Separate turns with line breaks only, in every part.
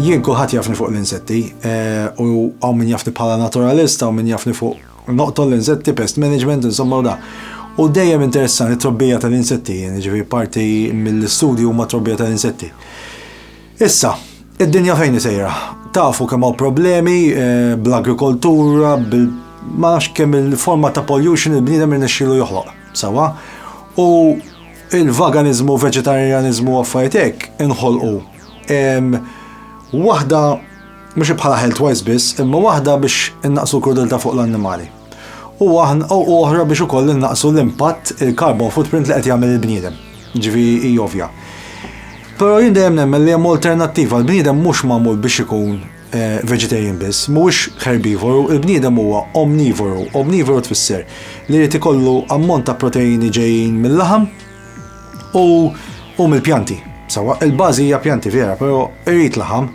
Jien kulħadd jafni fuq l-insetti u hawn min jafni bħala naturalist, hawn min jafni fuq noqtol l-insetti, pest management, insomma u dak. U dejjem interessani t-trobbija tal-insetti, jiġifieri parti mill-istudji huma t-trobbija tal-insetti. Issa, id-dinja fejn hi sejra? Tafu kemm hawn problemi bl-agrikoltura, bil ma nafx kemm il-forma ta' pollution il-bniedem irnexxielu joħloq, sewwa? U il-vaganizmu, veġetarjaniżmu u affarijiet hekk inħolqu. Waħda mhux bħala health wise biss, imma waħda biex innaqsu l-krudeltà fuq l-annimali. u aħna u oħra biex ukoll innaqsu l-impatt il-carbon footprint li qed jagħmel il-bniedem. Ġifi hi ovvja. Però jien dejjem nemmen li hemm alternattiva l-bniedem mhux magħmul biex ikun eh, vegetarian biss, mhuwiex herbivoru, il-bniedem huwa omnivoru. Omnivoru tfisser li jrid ikollu ammont ta' proteini ġejjin mill-laħam, U u mill-pjanti. Sawa, il-bażi hija pjanti vera, però irrid laħam.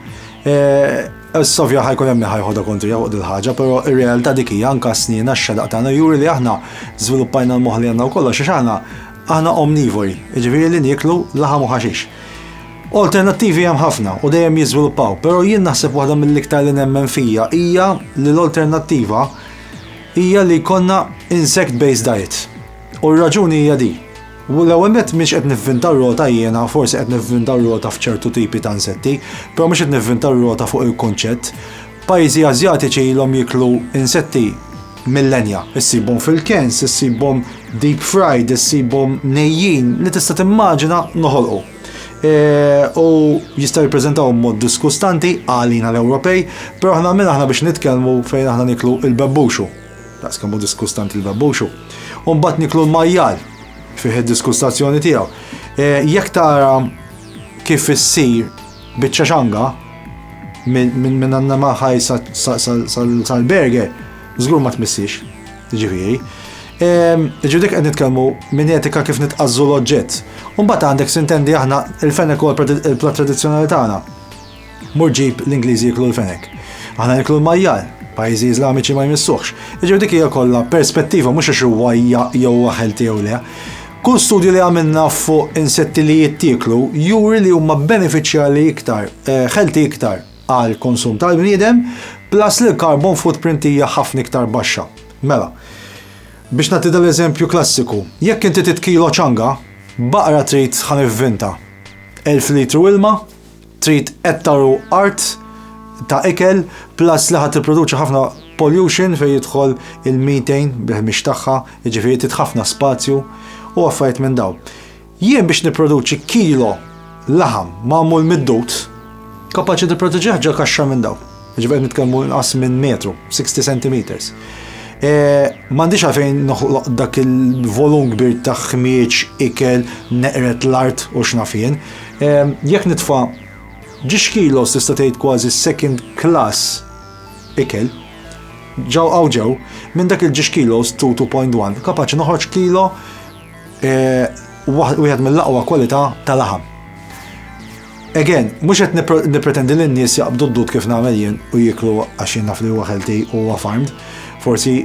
Eh, Sovja ħajkun hemm ħajħodha kontri fuq il ħaġa però ir-realtà dik hija anke snina x-xedaq tagħna juri li aħna żviluppajna l-moħħ li għandna wkoll għax aħna aħna omnivori, jiġifieri li nieklu laħam u ħaxix. Alternattivi hemm ħafna u dejjem jiżviluppaw, però jien naħseb waħda mill-iktar li nemmen fija hija li l-alternattiva hija li jkollna insect-based diet. U r-raġuni hija di. L-ewwel nett m'iniex qed nivvinta r-rota jiena, forsi qed nivvinta r-rota f'ċertu tipi ta' insetti, però mhux qed nivvinta r-rota fuq il-kunċett. Pajjiżi Ażjatiċi ilhom jieklu insetti millenja. Issibhom fil-cans, issibhom deep fried, issibhom nejjin li tista' timmaġina noħolqu. E, u jista' jippreżentaw mod diskustanti għalina l-Ewropej, però aħna min aħna biex nitkellmu fejn aħna niklu il-bebbuxu. Daqs kemm hu diskustanti l-babbuxu. U mbagħad niklu l-majjal fih id-diskustazzjoni tiegħu. E, jekk tara kif issir biċċa xanga minn għandna maħaj sal-berger, żgur ma tmissix, ġifieri. E, Ġudik qed nitkellmu minn etika kif nitqażżu l-oġġett. Mbagħad għandek sintendi aħna il-fenek u l-plat tradizzjonali tagħna. Mur ġib l-Ingliżi jiklu l-fenek. Aħna niklu l-majjal, pajjiżi Iżlamiċi ma jmissuħx. Iġu dik hija kollha perspettiva mhux għax huwa jew huwa ħelti jew le. Kull studju li għamilna fuq insetti li jittieklu juri li huma benefiċjali iktar, ħelti eh, iktar għal konsum tal-bniedem, plus li l-carbon footprint hija ħafna iktar baxxa. Mela, biex nagħti dal-eżempju klassiku, jekk inti titkilo ċanga, baqra trid ħan vinta 1000 litru ilma, Trid ettaru art ta' ikel plus li ħa tipproduċi ħafna pollution fejn jidħol il-methane bil-ħmiex tagħha, jiġifieri trid ħafna spazju u affarijiet minn dawn. Jien biex nipproduċi kilo laħam magħmul mid-dud, kapaċi nipproduċih ġo kaxxa minn dawn. Jiġifieri qed nitkellmu inqas minn metru, 60 centimeters. M'għandix għalfejn noħloq dak il-volum kbir ta' ħmieġ, ikel, neqred l-art u x'naf jien. Jekk nitfa' ġiex kilos tista' tgħid kważi second class ikel, ġeww hawn ġeww, minn dak il-ġiex kilos, 2, 2.1, kapaċi noħroġ kilo Wieħed mill-aqwa kwalità ta' laħam. Again, mhux qed nippretendi li n-nies jaqbdu d-dud kif nagħmel jien u jieklu għax jien naf li huwa healthy u huwa farmed. Forsi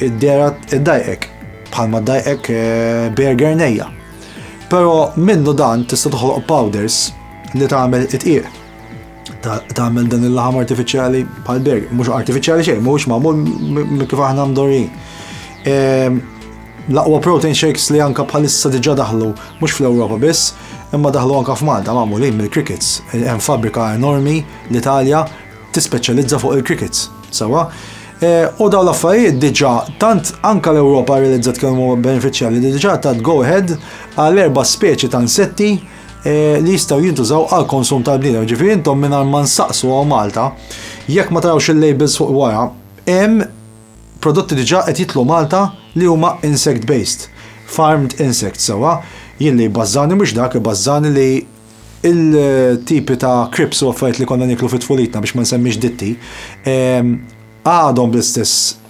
id-dera id-dajqek, bħalma dajqek eh, burger nejja. Però minnu dan tista' toħloq powders li tagħmel it-tqiq. tagħmel dan il-laħam artifiċjali bħal berg, mhux artifiċjali xejn, mhux magħmul kif aħna mdorrin. Ehm, l-aqwa protein shakes li anka bħalissa diġà daħlu mhux fl-Ewropa biss, imma daħlu anka f'Malta magħmulin mill-crickets. Hemm fabrika enormi l-Italja tispeċjalizza fuq il-crickets. Sawa? Eh, u daw l-affarijiet diġa tant anka l-Ewropa realizzat kemm huwa benefiċjali li diġa ta' go ahead għal erba' speċi ta' insetti Eh, li jistaw jintużaw għal konsum tal-bniedem. Ġifieri intom minn ma nsaqsu għaw Malta, jekk ma tarawx il-labels fuq wara, hemm prodotti diġà qed jitlu Malta li huma insect based, farmed insects sewa, jien li bazzani mhux dak bazzani li il-tipi ta' krips u affarijiet li konna niklu fit-tfulitna biex ma nsemmix ditti, ehm, għadhom bl-istess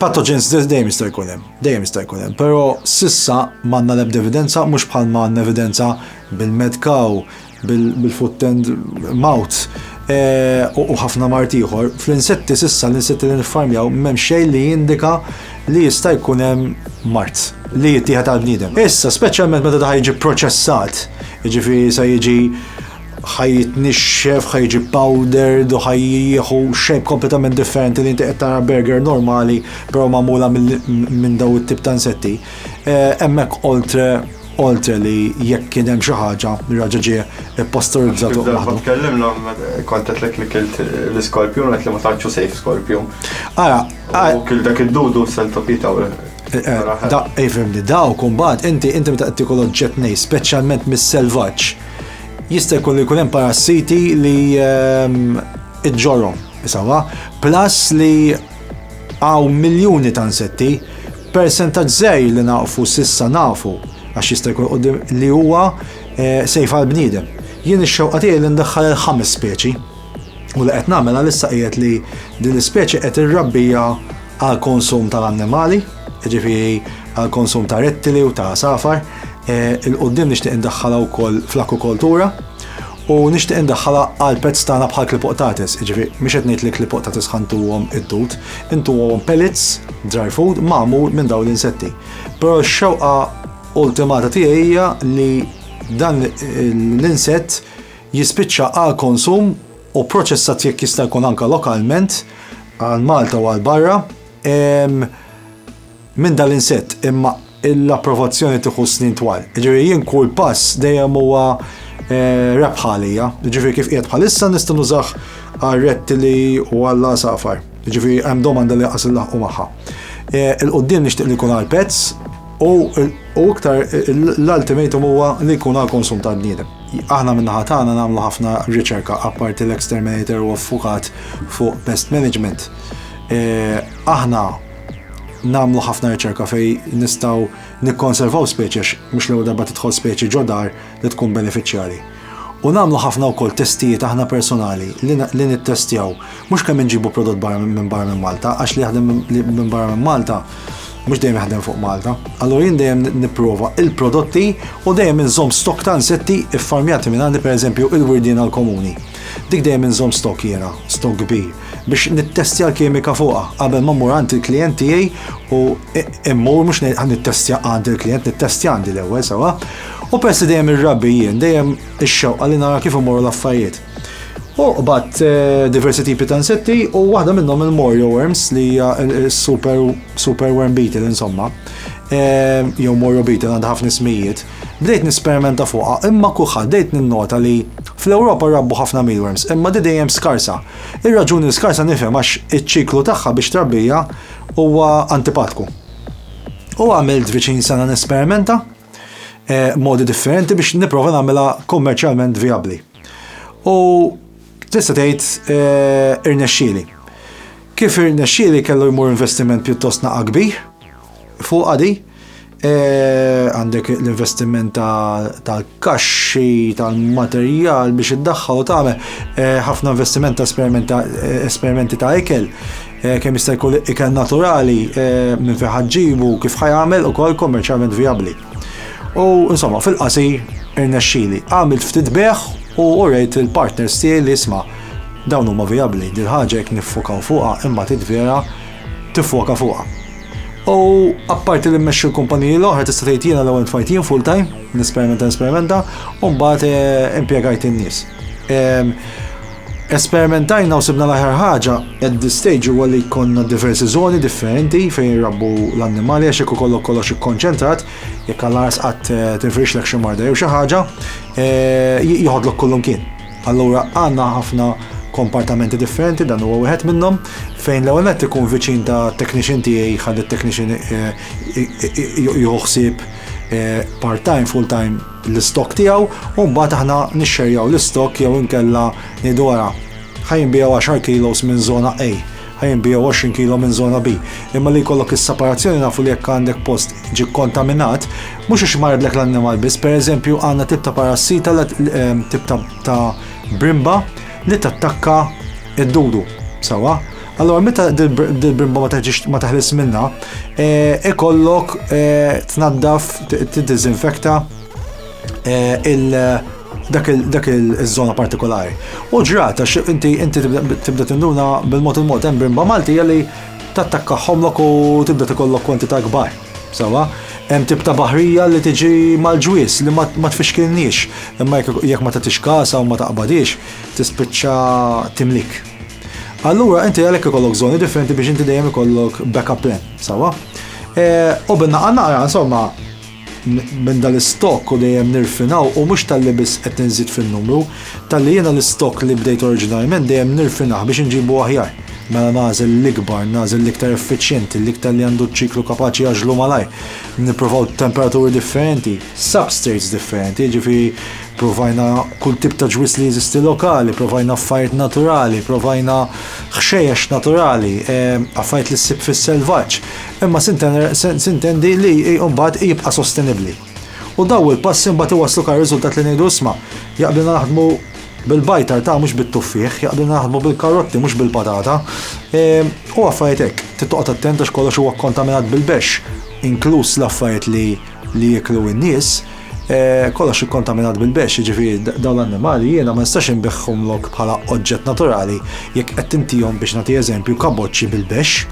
Pathogens dejjem jista' jkun hemm, dejjem jista' jkun hemm, però sissa m'għandna l-ebda evidenza mhux bħal ma għandna evidenza bil-mad cow, bil-foot and mouth eh, u ħafna mart ieħor. Fl-insetti sissa l-insetti li niffarmjaw m'hemm xejn li jindika li jista' jkun hemm mart li jittieħed għal bniedem. Issa, speċjalment meta daħal jiġi proċessat, jiġifieri se jiġi ħaj jitnixxef, ħaj jiġi powdered u ħaj jieħu shape kompletament differenti li inti qed tara burger normali però magħmula minn daw it-tip ta' insetti. Eh, hemmhekk oltre oltre li jekk kien hemm xi ħaġa li raġa ġie posterizzat u waħdu. Tkellimna
kont qed li kilt l-iskorpjun qed li ma tantxu sejf skorpjun. Ara, u kil dak id-dudu sentopita u eh, eh, Da,
ifimni, eh, daw kumbat, inti inti meta qed tikol oġġett nej, speċjalment mis-selvaġġ, Jista' jkun li jkun hemm parassiti li ehm, iġġorhom isawa, plus li għaw miljuni ta' insetti, percentaġġ żej li nafu sissa nafu għax jista' jkun li huwa eh, sejf għal bniedem. Jien ix-xewqa tiegħi li ndaħħal il-ħames speċi U li qed nagħmel għalissa qiegħed li din l-ispeċi qed irrabbiha għal konsum tal-annimali, jiġifieri għal konsum ta' rettili u ta' għasafar. Eh, Il-qudiem nixtieq indaħħalha wkoll fl-akwakoltura u nixtieq indaħħalha għal pezz tagħna bħal klipoqtatis, jiġifieri mhux qed ngħid li klipoqtatis ħantuhom it-tut, intuhom pellets, dry food, magħmul minn dawn l-insetti. Però x-xewqa ultimata tiegħi hija li dan l-insett jispiċċa għal konsum u proċessat jekk jista' jkun anke lokalment għal Malta u għal barra minn dal-insett imma l-approvazzjoni tieħu snin twal. Ġifieri jien kull pass dejjem huwa eh, rebħa għalija. Ġifieri kif qiegħed bħalissa nista' nużah għal rettili u għal safar. Ġifieri hemm domanda li qas il-laħqu magħha. Eh, il-qudiem nixtieq li jkun għal pets u iktar l-ultimatum huwa li jkun għal konsum tal-bniedem. Aħna min-naħa tagħna nagħmlu ħafna riċerka apparti l-exterminator huwa ffukat fuq pest management. Aħna nagħmlu ħafna riċerka fej nistgħu nikkonservaw speċi għax mhux l-ewwel darba tidħol speċi ġodar li tkun benefiċjari. U nagħmlu ħafna wkoll testijiet aħna personali li nittestjaw Mhux kemm inġibu prodott barra minn barra minn Malta, għax li jaħdem minn barra minn Malta mhux dejjem jaħdem fuq Malta. Allura jien dejjem nipprova il-prodotti u dejjem inżomm stok ta' insetti ffarmjati minn għandi pereżempju il-wirdien għall-komuni. Dik dejjem inżomm stok jiena, stok kbir, biex nittestja l-kimika fuqha qabel ma mmur għand il-klijent tiegħi u mmur mhux ngħid ħa nittestja għand il-klijent, nittestja għandi l-ewwel sewwa. U peress li dejjem irrabbi jien, dejjem ix-xewqa li nara kif imorru l-affarijiet. U qbad eh, diversi tipi ta' insetti u waħda minnhom il-Morio worms li hija super super worm beetle insomma. Eh, jew Morio beetle għandha ħafna ismijiet. Bdejt nisperimenta fuqha imma kulħadd dejt ninnota li fl-Ewropa rabbu ħafna mealworms imma di dejjem skarsa. Ir-raġuni skarsa nifhem għax iċ-ċiklu tagħha biex trabbija huwa antipatku. U għamilt viċin sena nesperimenta eh, modi differenti biex niprofa nagħmilha kummerċjalment viabli. U tista' tgħid eh, irnexxieli. Kif irnexxieli kellu jmur investiment pjuttost naqa' kbir fuq għadi, eh, għandek l-investiment tal-kaxxi, tal-materjal biex iddaħħal u tagħmel eh, ħafna investiment ta' esperimenti ta' ikel Eh, kemm jista' jkun ikel naturali eh, minn fejn ħaġġibu kif ħajamel ukoll kommerċjalment vijabbli. U insomma, fil-qasir irnexxili. Għamilt ftit beħ u urejt il-partners tiegħi li isma' dawn huma vijabbli dil ħaġa jekk niffokaw fuqha imma titvera tiffoka fuqha. U apparti li mmexxi l-kumpaniji l-oħra tista' tgħid jiena l-ewwel tfajt jien full time, nesperimenta nesperimenta, u mbagħad eh, impjegajt in-nies. Ehm, Esperimentajna u sibna l-aħjar ħaġa at this stage huwa li jkollna diversi żoni differenti fejn jirrabbu l-annimali għax jekk ikollok kollox ikkonċentrat, jekk għal ars qatt eh, tinfirixlek xi marda jew xi ħaġa, eh, joħodlok kullumkien. Allura għandna ħafna kompartamenti differenti dan huwa wieħed minnhom fejn l-ewwel nett ikun viċin ta' technician tiegħi ħalli t-technician eh, joħsib part-time, full-time l-istock tiegħu u mbagħad aħna nixxerjaw l-istock jew inkella ngħidu ara ħa jinbiegħu 10 kilos minn żona A, ħa jinbiegħu 20 kilo minn żona B. Imma li jkollok is-separazzjoni nafu li jekk għandek post ġie kkontaminat, mhux għax marridlek l-annimal biss, pereżempju għandna tip ta' parassita ehm, tip ta' brimba li tattakka id-dudu, sewwa? Allora, meta dil-brimba ma taħlis minna, eh, ikollok eh, tnaddaf, t-dizinfekta eh, il- dak il-zona partikolari. U ġrata, inti inti tibda tinduna bil-mod il-mod hemm brimba Malti li tattakka ħomlok u tibda tikollok kwantità kbar. Sawa, hemm tip ta' baħrija li tiġi mal-ġwies li ma tfixkilniex, imma jekk ma tagħtix kasa u ma taqbadix, tispiċċa timlik. Allura inti għalhekk ikollok żoni differenti biex inti dejjem ikollok backup plan, sawa? E, u binna għanna għara, insomma, minn dal-istok u dejjem nirfinaw u mhux tal-li biss qed nżid fin-numru, tal-li jiena l-istok li bdejt oriġinarjment dejjem nirfinah biex inġibu aħjar. Mela nażel l-ikbar, nażel l-iktar effiċjenti, l-iktar li għandu ċiklu kapaċi jaġlu malaj, nipprovaw temperaturi differenti, substrates differenti, ġifi Provajna kull tip ta' ġwież li jeżisti lokali, provajna affarijiet naturali, provajna ħxejjex naturali, affarijiet li ssib fis-selvaġġ, imma sintendi li mbagħad jibqa' sostenibbli. U daw il-passi mbagħad iwasslu kar riżultat li ngħidu isma', jaqblilna naħdmu bil-bajtar ta' mhux bit-tuffieħ, jaqblilna naħdmu bil-karotti mhux bil-patata, u affarijiet hekk. Trid toqgħod attent għax kollox huwa kkontaminat bil-bexx, inkluż l-affarijiet li li jiklu n-nies, eh, kollox ikkontaminat bil-bex, jiġifieri dawn l-annimali jiena ma nistax inbiħħumlok bħala oġġett naturali jekk qed tintihom biex nagħti eżempju kaboċċi bil-bex.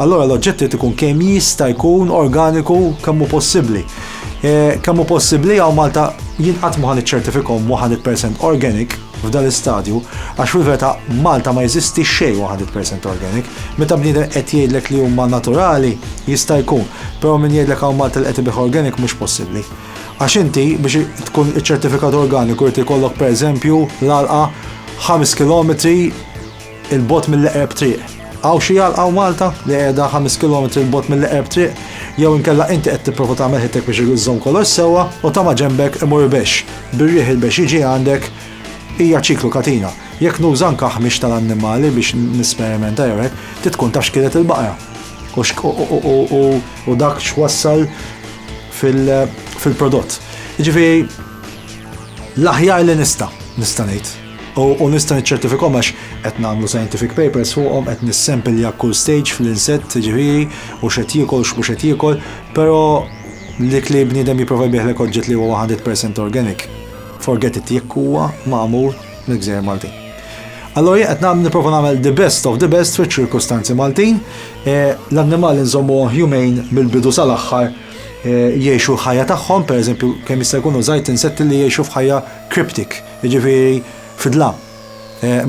Allora l-oġġett irid ikun kemm jista' jkun organiku kemm hu possibbli. Eh, kemm hu possibbli hawn Malta jien qatt ma ħan iċċertifikhom 100% organic, f'dan l-istadju għax fil-verità f'Malta ma jeżisti xejn 100% organic. Meta bniedem qed jgħidlek li huma naturali jista' jkun, però min jgħidlek hawn Malta li qed ibigħ organic mhux possibbli. Għax inti biex tkun iċċertifikat organiku jrid ikollok pereżempju l-għalqa ħames kilometri Il-bot mill-eqreb triq. Għaw xi għal għaw Malta li qiegħda 5 km il-bot mill-eqreb triq, jew inkella inti qed tipprova tagħmel ħittek biex iżżomm kollox sewwa u ta' ma ġembek imur bex, bir-riħ il-bex jiġi għandek, hija ċiklu katina. Jekk nuża anke ħmix tal-annimali biex nisperimenta jew hekk, ti tkun taf x'kielet il-baqra. U dak x'wassal fil-prodott. Jiġifieri l-aħjar li nista' nista' ngħid. U nista' niċċertifikhom għax qed nagħmlu scientific papers fuqhom, qed nissempilja kull stage fl-insett ġifieri u x'qed jiekol x'mhux qed jiekol, però dik li bniedem jipprova jbiegħlek oġġett li huwa 100% organic, forget it jekk huwa magħmul mill-Gżejjer Maltin. Allora jien qed nagħmel nipprova nagħmel the best of the best fiċ-ċirkustanzi Maltin, eh, l-annimali nżommuhom humane mill-bidu sal-aħħar Eh, jiexu l-ħajja tagħhom, pereżempju kemm jista' jkunu żgħid insetti li jiexu f'ħajja cryptic. Jiġifieri, fid-dlam.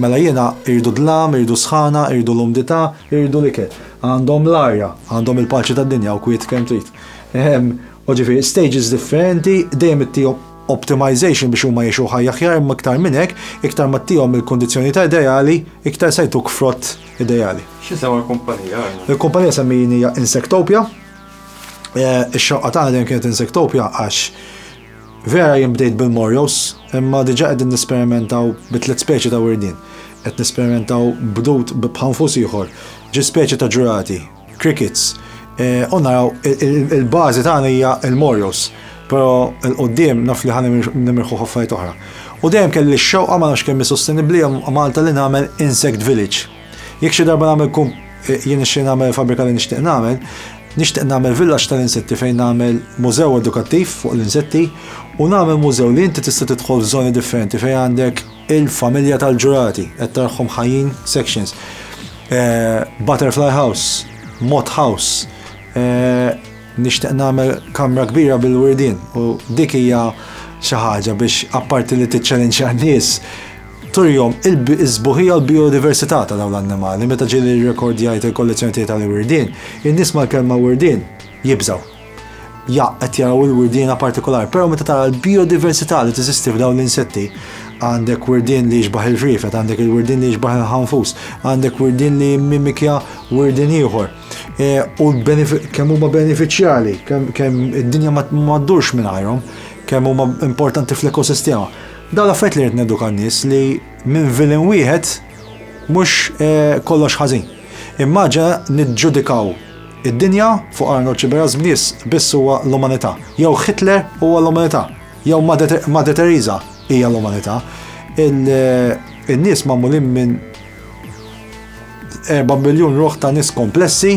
Mela jiena, irridu d-dlam, irridu s-sħana, irridu l-umdità, irridu l-ikel. Għandhom l-arja, għandhom il-paċi tad-dinja u kwiet kemm trid. U ġifieri, stages differenti, dejjem ittihom optimization biex huma jgħixu ħajja aħjar imma iktar minn hekk, iktar ma ttihom il-kundizzjonijiet ideali, iktar se jtuk frott ideali. X'isem għall-kumpanija
għandna? Il-kumpanija semmijin
hija Insectopia. Ix-xewqa tagħna dejjem kienet Insectopia għax Vera jien bdejt bil-morjos, imma diġà qegħdin nesperimentaw bi tliet speċi ta' wirdien. Qed nesperimentaw b'dud bi bħanfus ieħor, xi speċi ta' ġurati, crickets. U naraw, il-bażi tagħna hija l-morjos, però 'l quddiem naf li ħa nimirħu f'affarijiet oħra. U dejjem kelli x-xewqa, ma nafx kemm hi sostenibbli, Malta li nagħmel insect village. Jekk xi darba nagħmel kum jien nixtieq nagħmel fabrika li nixtieq nagħmel, nixtieq nagħmel villaġġ tal-insetti fejn nagħmel mużew edukattiv fuq l-insetti u nagħmel mużew li inti tista' tidħol f'żoni differenti fejn għandek il-familja tal-ġurati qed tarħhom ħajjin sections. Eh, butterfly house, moth house, eh, nixtieq nagħmel kamra kbira bil-wirdin u dik hija xi ħaġa biex apparti li tiċċelenċja nies Turihom is-sbuħija u l-bijodiversità ta' dawn l-annimali. Meta ġieli rrekordjajt il-kollezzjoni tiegħi tal-wirdien, in-nies mal-kelma wirdien jibżgħu. Jaqq qed jaraw il-wirdiena partikolari, però meta tara l-bijodiversità li teżisti f'dawn l-insetti, għandek wirdien li jixbaħ il-ħriefet, għandek il-wirdien li jixbaħ il-ħanfus, għandek wirdien li jimmimikja wirdien ieħor. U kemm huma benefiċjali, kemm id-dinja ma ddurx mingħajrhom, kemm huma importanti fl-ekosistema. Dawn l-affarijiet li rrid neduka n-nies li minn vilin wieħed mhux eh, kollox ħażin. Immaġa niġġudikaw id-dinja fuq Arnold Ċiberas biss biss huwa l-umanità. Jew Hitler huwa l-umanità. Jew Madre Teresa hija l-umanità. Eh, in-nies magħmulin minn 4 miljun ruħ ta' nies komplessi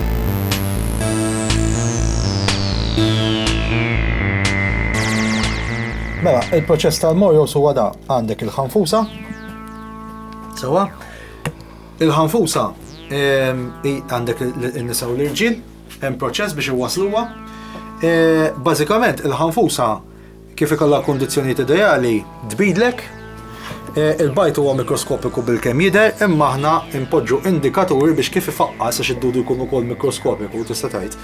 Mela, il-proċess tal-mojos huwa da għandek il-ħanfusa. Sewa, il-ħanfusa ehm, għandek il-nisa u l-irġil, hemm proċess biex iwasluha. E, bażikament il-ħanfusa Kif ikollha l-kundizzjonijiet ideali tbidlek? Il-bajd huwa mikroskopiku bilkemm jidher, imma aħna npoġġu indikaturi biex kif ifaqqas għax id-dudu jkun ukoll mikroskopiku tista' tgħid.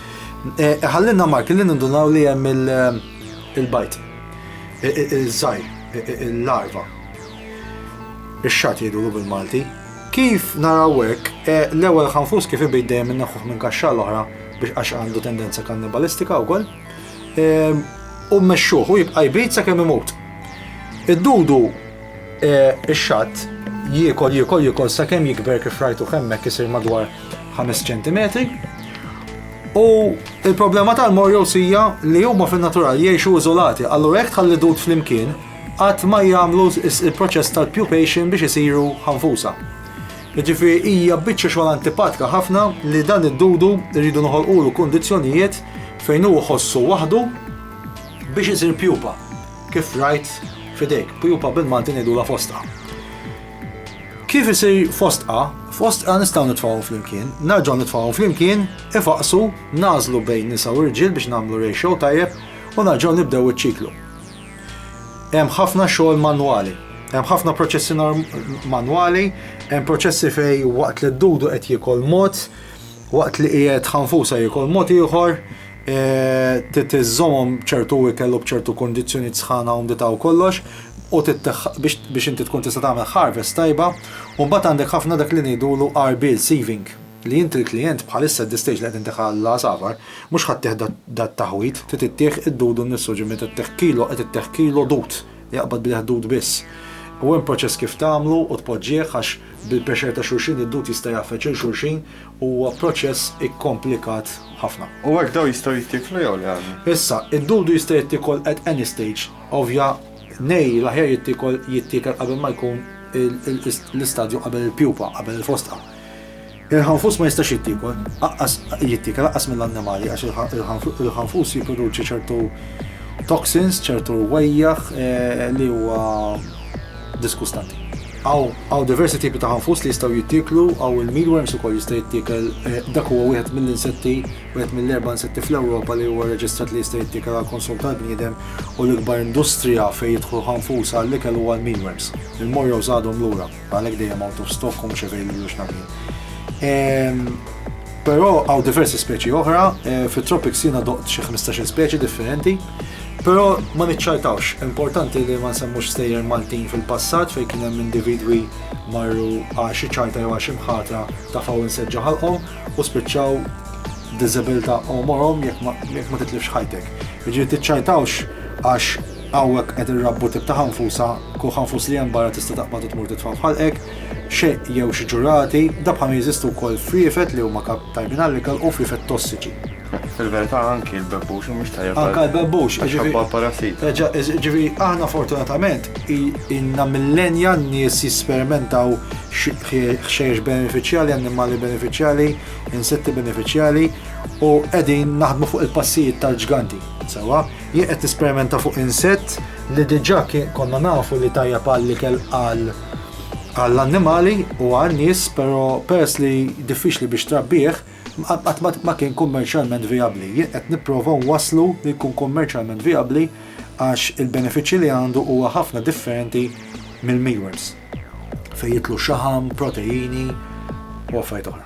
Iħallilna e, marki li nindunaw li hemm il-bajd. Iż-żgħir, il-larva. Ix-xatt jgħidulu bil-Malti. Kif naraw hekk, e, l-ewwel ħanfus kif ibid dejjem inneħħuh minn kaxxa l-oħra biex għax għandu tendenza kannibalistika wkoll. ehm, u mmexxuh u jibqa' jbid sakemm imut. Id-dudu eh, ix-xatt jiekol jiekol jiekol sakemm jikber kif rajtu hemmhekk isir madwar 5 cm. U il-problema tal-morjos hija li huma fin-natural jgħixu iżolati, allura jekk tħalli dud flimkien qatt ma jagħmlu il-proċess tal-pupation biex isiru ħanfusa. Jiġifieri hija biċċa xogħol antipatika ħafna li dan id-dudu rridu noħolqulu kundizzjonijiet fejn hu jħossu waħdu biex isir pjupa, kif rajt f'idejk, pjupa bil-Malti ngħidulha fostqa. Kif isir fostqa, fostqa nistgħu nitfgħuhom flimkien, narġgħu nitfgħuhom flimkien, ifaqqsu, nagħżlu bejn nisa u rġiel biex nagħmlu ratio tajjeb u narġgħu nibdew iċ-ċiklu. Hemm ħafna xogħol manwali. Hemm ħafna proċessi manwali, hemm proċessi fej waqt li d-dudu qed jikol mod, waqt li qiegħed ħanfusa jikol mod ieħor, e, titiżomhom ċertu ikel u b'ċertu kondizzjoni sħana u ndita u kollox, u biex inti tkun tista' tagħmel harvest tajba, u mbagħad għandek ħafna dak li ngħidulu arbil sieving. Li int il-klijent bħalissa at the stage li qed intieh għall-għasafar, mhux ħadd tieh dat-taħwid, trid ittieh id-dud innifsu, ġifieri meta ttieh kilo qed ittieh kilo dud, jaqbad bih dud biss. U hemm proċess kif tagħmlu u tpoġġieh għax bil-pressure ta' xulxin id-dud jista' jgħaffeġ lil xulxin u huwa proċess ikkomplikat ħafna. U hekk dawn jistgħu
jittieklu jew le għadni? Issa, id-dudu
jista' jittiekol at any stage. Ovvja, nej l-aħjar jittiekol jittiekel qabel ma jkun l-istadju qabel il-pjupa, qabel il-fostqa. Il-ħanfus ma jistax jittiekol, aqqas jittiekel aqqas mill-annimali għax il-ħanfus jipproduċi ċertu toxins, ċertu wejjaħ li huwa diskustanti. Hawn diversi tipi ta' ħanfus li jistgħu jittieklu, hawn il-mealworms ukoll jista' jittiekel, dak huwa wieħed mill-insetti, wieħed mill-erba' insetti fl-Ewropa li huwa rreġistrat li jista' jittiekel għall-konsum tal-bniedem u l-ikbar industrija fejn jidħlu ħanfus għall-ikel huwa l-mealworms. Il-morrows għadhom lura. Għalhekk dejjem out of stock u mhux available x'naf jien. Però hawn diversi speċi oħra, fit-tropics jiena doqt xi ħmistax-il speċi differenti, però ma niċċajtawx. Importanti li ma nsemmux stejjer Maltin fil-passat fejn kien hemm individwi marru għal xi ċajta jew għal xi mħatra tafgħu insett ġo ħalqhom u spiċċaw b'diżabilità għomorhom jekk ma titlifx ħajtek. Jiġifieri tiċċajtawx għax Hawnhekk qed irrabbu tip ta' ħanfusa, kull ħanfus li hemm barra tista' taqbad u tmur titfa' f'ħalqek, xi jew xi ġurati, dabħalhom jeżistu wkoll friefet li huma kap tajbin għall-ikel u friefet tossiċi. Fil-verità
anki l-bebbux mhuwiex tajjeb għal. Anke l-bebbux, jiġifieri.
Għax parassita. Reġa',
jiġifieri aħna
fortunatament ilna millenja n-nies jesperimentaw ħxejjex benefiċjali, annimali benefiċjali, insetti benefiċjali u qegħdin naħdmu fuq il-passijiet tal-ġganti, sewwa? Jien qed tisperimenta fuq insett li diġà konna nafu li tajjeb għall-ikel għal għall-annimali u għal nies, però peress li diffiċli biex trabbih, ma kien kummerċjalment vijabbli. Jien qed nipprova nwasslu li jkun kummerċjalment vijabbli għax il-benefiċċji li għandu huwa ħafna differenti mill-mealworms fejn jitlu xaħam, proteini u affarijiet oħra.